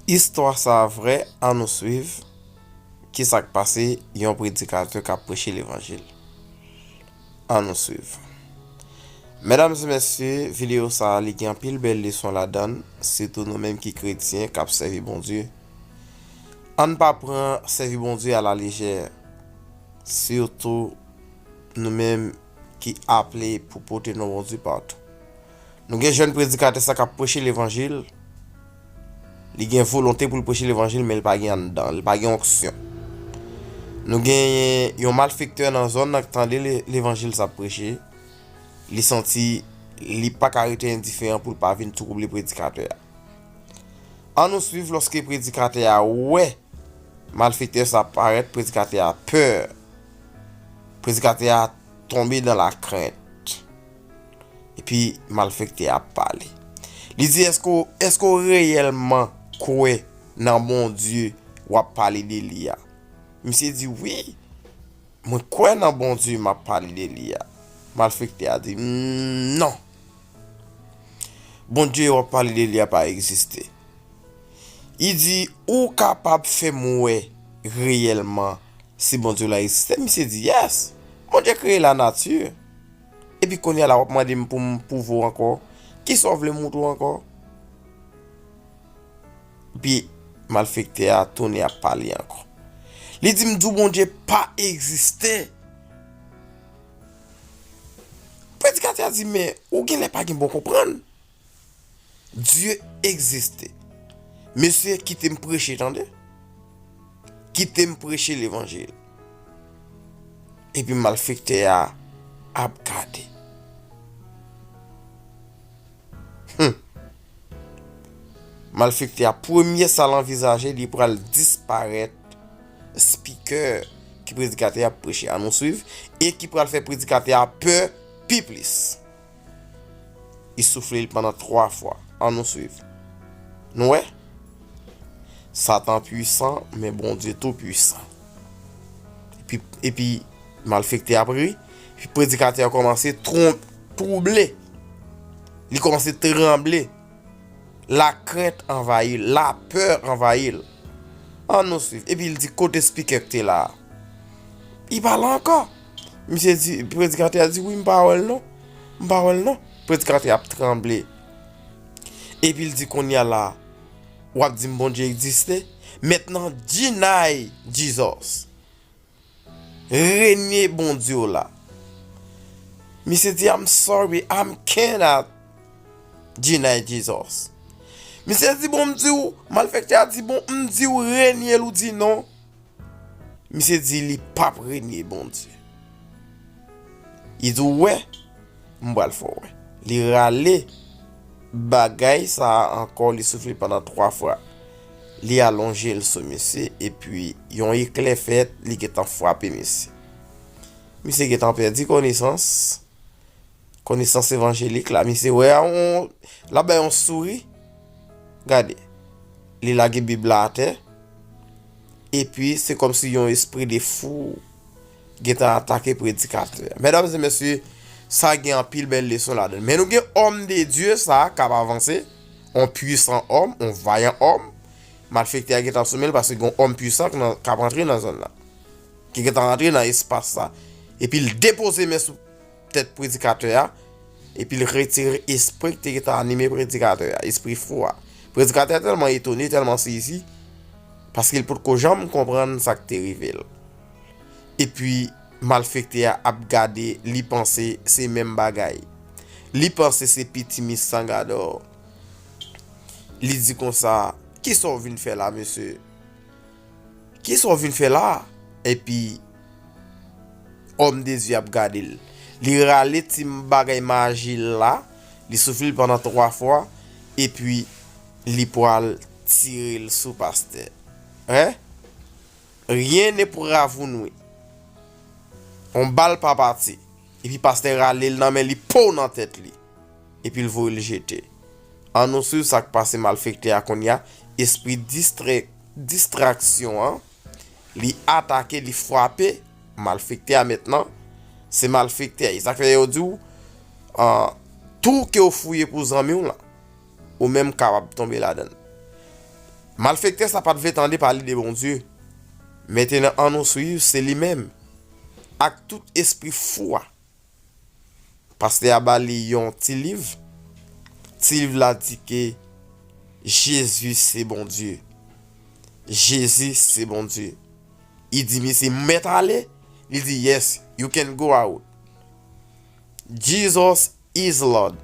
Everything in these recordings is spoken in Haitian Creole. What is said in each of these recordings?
Istwa sa a vrè, an nou swiv ki sa k pase yon predikatè k ap preche levanjil. An nou swiv. Medam e mesye, videyo sa a li gen anpil bèl leson ladan l, sitou nou menm ki kretyen k ap sèvi Bondye. An n pa pran sèvi Bondye a la lejè, sitou nou menm ki aple pou pote non Bondye patou. Nou gen jèn predikatè sa kap preche levanjil, li gen volonte pou l preche levanjil men li pa gen anndan, li pa gen onksyon. Nou gen yon malfektè nan zòn nan k tande levanjil sa preche, li santi li pa ka rete endiferan pou l pa vin twouble predikatè a. An nou swiv lòske predikatè a wè malfektè sa parèt, predikatè a pè, predikatè a tonbe nan lakrent. Epi malfekte ap pale. Li di eske ou reyelman kwe nan Bondye wap pale de li a. Misye di wi mwen kwe nan Bondye map pale de li a. Malfekte a di non. Bondye wap pale de li a pa egziste. Li di ou kapab fe mwe reyelman si Bondye la egziste. Misye di yes. Bondye kreye la nati. Epi konya la wap mande m poum pwouve w ankò, kisa w vle m moutre w ankò? Epi malfektè a tounen ap pale ankò. Li di m di w Bondye pa egziste. Predikatè a di men ou genlè pa gen bon konprann. Dieu existe Mesye kite m preche tande Kite m preche levanjil Epi malfektè a ap gade Humm Malfektè a premye sa l anvizaje li pral disparèt Speaker ki predikatè a ap preche a nou swiv e ki pral fè predikatè a pè pi plis. Li soufle li pandan 3 fwa. An nou swiv. Nou wè? Satan pwisan, men Bondye tou pwisan. Epi, epi, malfekte ap ri, epi predikatè a kòmanse tron, twouble. Li kòmanse tranble. La krent anvayi l, la pè anvayi l. An nou swiv. Epi li di, kote spikè k te la a? Li pa la ankò. Misye di, predikatè a di, wi m pa wè l non, m pa wè l non. Predikatè ap tranble. Epi l di kounye a la, w ap di m Bondye egziste? Mentnan deny Jesus. Renye Bondye w la. Misye di, I'm sorry, I cannot deny Jesus. Misye di, bon m di w, malfektè a di, bon m di w renye l ou di non. Misye di li pap renye Bondye. Li di ou wè, m pral fè w wè. Li rale bagay sa a ankò, li soufle pandan 3 fwa. Li alonje l sou misye, epi yon eklè fèt, li gen tan frape misye. Misye gen tan pèdi konesans. Konesans evanjelik la misye wè a on la bay on souri. Gade. Li lage bib la atè. Epi se kom si yon espri de fou gentan atake predikatè. Medam se mesye sa gen an pil bel leson la dan. Men nou gen om de Dieu sa kap avanse. On pwisan om, on vayan om. Malfekte a gentan sou menl paske gen om pwisan kap antre nan zon la. Ki gentan antre nan espas sa. Epi l depoze men sou. tèt predikatè a, epi l retire espri ki te gen tan anime predikatè a, espri fou a. Predikatè a tèlman etone, tèlman sezi, paske l pot ko janm konprann sa ki te rive l. Epi, malfektè a ap gade, li panse se menm bagay. Li panse se piti mis san gadò. Li di konsa, Kisa ou vin fè la, mesye? Kisa w vin fè la a? Epi, òm de Dye a ap gade l. Li rale ti bagay maji l la, li soufle l pandan twa fwa, epi li pral tire l sou pastè. Hein? Rien ne pourra vous nuire. On bal pa pati. Epi pastè rale l nan men li pow nan tèt li. Epi l voye l jete. An nou swiv sa k pase malfektè a konnya, espri distraksyon an, li atake, li fwape malfektè a mentnan, se malfektè, e sa k fè yo di w, tou ke w fouye pou zanmi w lan, ou menm kapab tonbe ladan l. Malfektè sa pa t vle tande pale de Bondye, mentnan an nou swiv se li menm, ak tout espri fou a. Pastè a ba li yon ti liv. Ti liv la di ke Jezi se Bondye. Jezi se Bondye. Li di misye, m mèt ale? Li di, yes, you can go out. Jesus is Lord.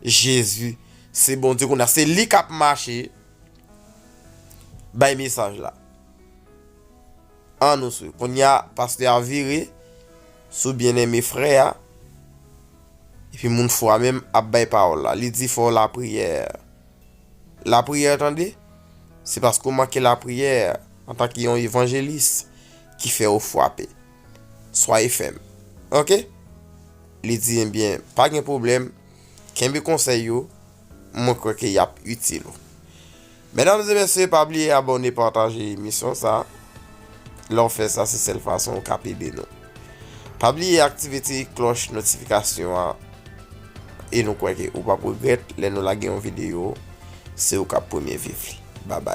Jezi se Bondye. Kounye a, se li k ap mache bay mesaj la. An nou sou. Kounye a, pastè a vire sou byeneme frè a, epi moun fou a menm ap bay pawòl la. Li di fè w lapriyè. Lapriyè tande? Se paske w manke lapriyè, antanke yon evanjelis, ki fè ou fwape. Swaye fèm. Oke? Li di, Ebyen, pa gen pwoblèm, kenbe konsèy yo, mwen kwè ke y ap itil ou. Medam e mesye pa bliye abone pataje emisyon sa lè w fè sa se sèl fason ou kap ede nou pa bliye aktive ti klòch notifikasyon an e nou kwè ke ou pap regrèt lè nou lage yon videyo se ou kap premye viv li babay.